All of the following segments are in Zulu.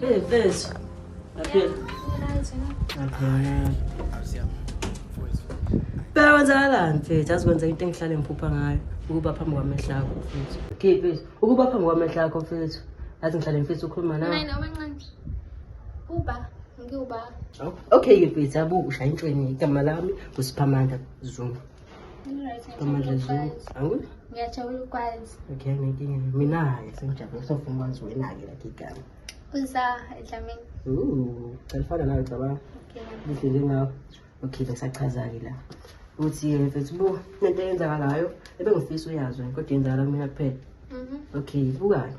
Hey, Vez. Appeal. Bheka kwenzakalani mfethu azikwenza into engihlale ngiphupha ngayo ukuba phambi kwamehla akho mfethu okay mfethu ukuba phambi kwamehla akho mfethu athi ngihlale mfethu ukhuluma nawe Nine omancane. Uba ngiwuba. okay ke mfethu abuke ushaya intshweni igama lami ngusiphamanda zungu ngiyajabula ukwazi okay nginkinga mina-ke sengijabule sofuna ukwazi wena-ke lakhe igama uza edlamini califana nayo cabanga lihle njengawo okay ngisachaza-ke la ukuthi eh, mfethu buka nento eyenzakalayo ebengifisa uyazi wena kodwa yenzakala kumina kuphela mhm. okay bukayo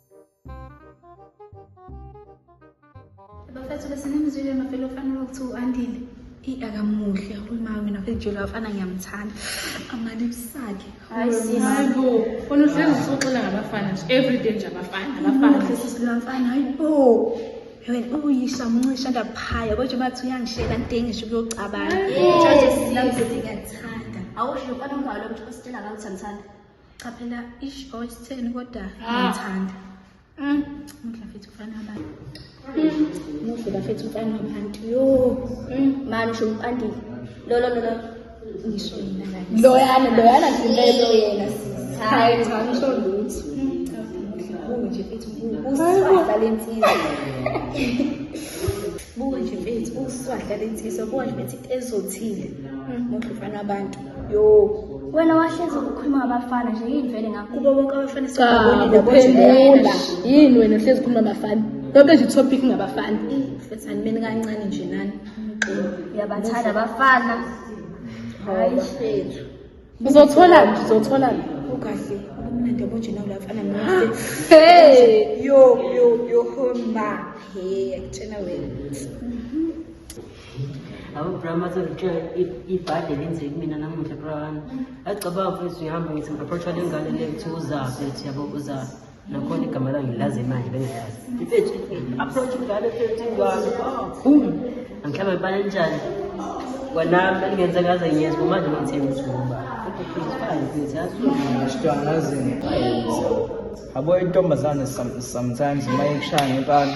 bafethu besinimzwile mavele ofanele ukuthi u-andile eyi akamuhle uma wena kujula afana ngiyamthanda amalips akhe Hayi, sis. hayibo fona uhlezi usuxela ngabafana nje everyday nje abafana abafana Muhle sisi lomfana hayi bo wena uyisha mncisha ndaphaya kodwa bathi uyangishela ntengisho kuyocabanga Hayibo. Judges, Nami sisi ngiyakuthanda awusho mfana ungalo ukuthi usitshela ngakuthi angithanda Cha phela ish or isitheni kodwa ngithanda. Mm. Muhle mfethu ufana abantu. Muhle bafethu ufana abantu. Yo. Manje usho umpandile. Lo lo lo lo. Ngisho yena la. Loyana loyana ngimelo yena. Hayi cha ngisho lutho. Buke nje mfethu usifaka lensizwa. Buke nje mfethu usifaka lensizwa. Buke nje mfethu ezothile. Muhle ufana abantu. yo wena wahlezi ukhuluma ngabafana nje yini vele ngakubo bonke abafana sokuphendula yini wena uhlezi ukhuluma ngabafana yonke nje topic ngabafana fethani mina kancane nje nani uyabathanda abafana hayi fethu uzothola nje uzothola nje ukahle ubumnandi obojena kula mfana mnandi hey yo yo yo homa hey akutshena wena Abo bra mase ngitshela ibhadi lenze kumina namuhla bra wami. Agcabanga mfethu uyahamba ngithi ngiapproacha le ngane le kuthi uzaphi ethi yabo uzaphi. Nakhona igama lami ngilazi manje bengilazi. Mfethu approach ingane mfethu ingane. Boom. Angihlaba ibani njani? Kwanami bengenza ngaze ngiyezwa manje ngithemba ukuthi ngoba. Sitwana zini. Abo intombazane sometimes uma ikushaya ngempani.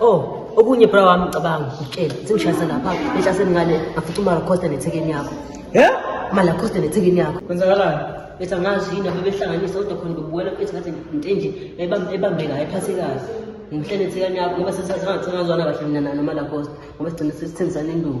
Oh, okunye bra wami ngicabanga ukutshela sengishayisa lapha behla semngane ngafuthi umara costa nethekeni yakho Yeah? mala costa nethekeni yakho Kwenzakalani? bethi angazi yini abebehlanganisa kodwa khona bebuwela bethi ngathi into enje ebam- ebambeka ayiphathe kahle ngimhlele ethekeni yakho ngoba sesazangathi sengazwana kahle mina nalo mala costa ngoba sigcine sesithengisana induku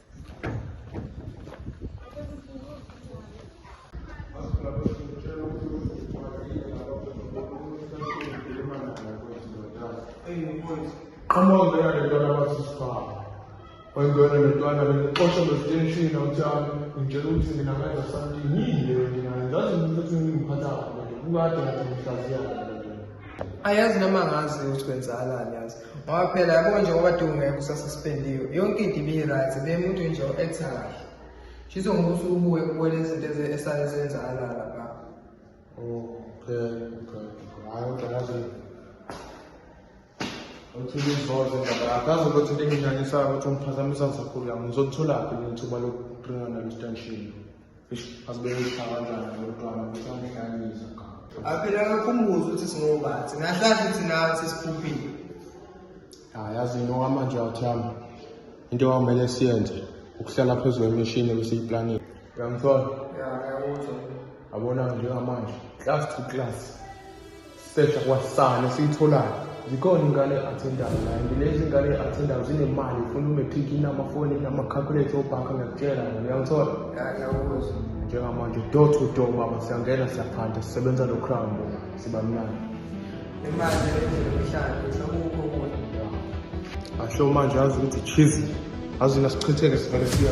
Qhamuka ngena nentwana abasisifaka. Wayengena nentwana lexosha lositeshini awuthami ngitshela ukuthi mina ngenza something yini leyo mina ngazi ukuthi ngingiphatha kabi kukade ngathi ngihlaziya. Ayazi noma ngazi ukuthi kwenzakalani yazi. ngoba phela yabo nje ngoba dunge kusasa sipendiwe yonke into ibi-right bemuntu nje o-acta kahle shiso ngokuthi ubuke ubone izinto esale zenzakala lapha okay okay hayi uqalaze uthi ngizoze ndaba akazi ukuthi linginyanyisayo ukuthi ungiphazamisa ngisakhulu yami ngizolitholaphi nithuba lokuqinga nalo stanshini aphela kakhumbuza ukuthi singobathi ngahlazi ukuthi nawe sesiphuphile hayi yazi yini okwamanje awuthami into okwamele siyenze ukuhlala phezu kwemishini ebesiyiplanile uyangithola yabona njengamanje class to class Search kwasani siyitholani zikhona ingane athendayo naye ngilezi ngane athendayo zinemali ifuna umatric inamafoni inama-calculator obhanka ngiyakutshela ngane uyangithola njengamanje door to door baba siyangena siyaphanda sisebenza lo crown siba mnandi asho manje azi ukuthi cheese azi nasichitheke sivele siya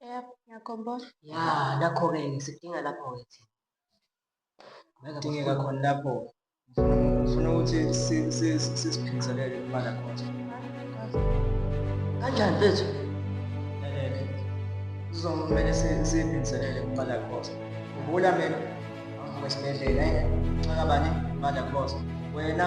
Yep, ngiyakhumbula. Ya, nakho-ke sikudinga lapho-ke thina. Ngeke Kudingeka bafune- khona lapho. Ngifuna ukuthi si- si- si- sisiphindiselele imali yakhona. Kanjani mfethu? Elele. Sizomele si- siyiphindiselele imali yakhona. Khumbula mina, angivuka esibhedlela, eh? Nxaka bani? Imali yakhona. Wena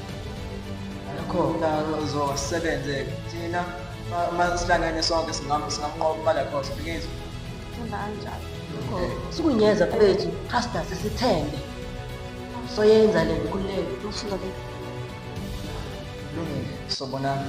Akho mdlalo ozosebenze thina uma sihlangene sonke singamu singamnqoba imali yakho sibingezi. Themba kanjalo. Sikunyeza kwethu trust us sithembe. Soyenza le nkululeko ufuna ke. Lungile sobonana.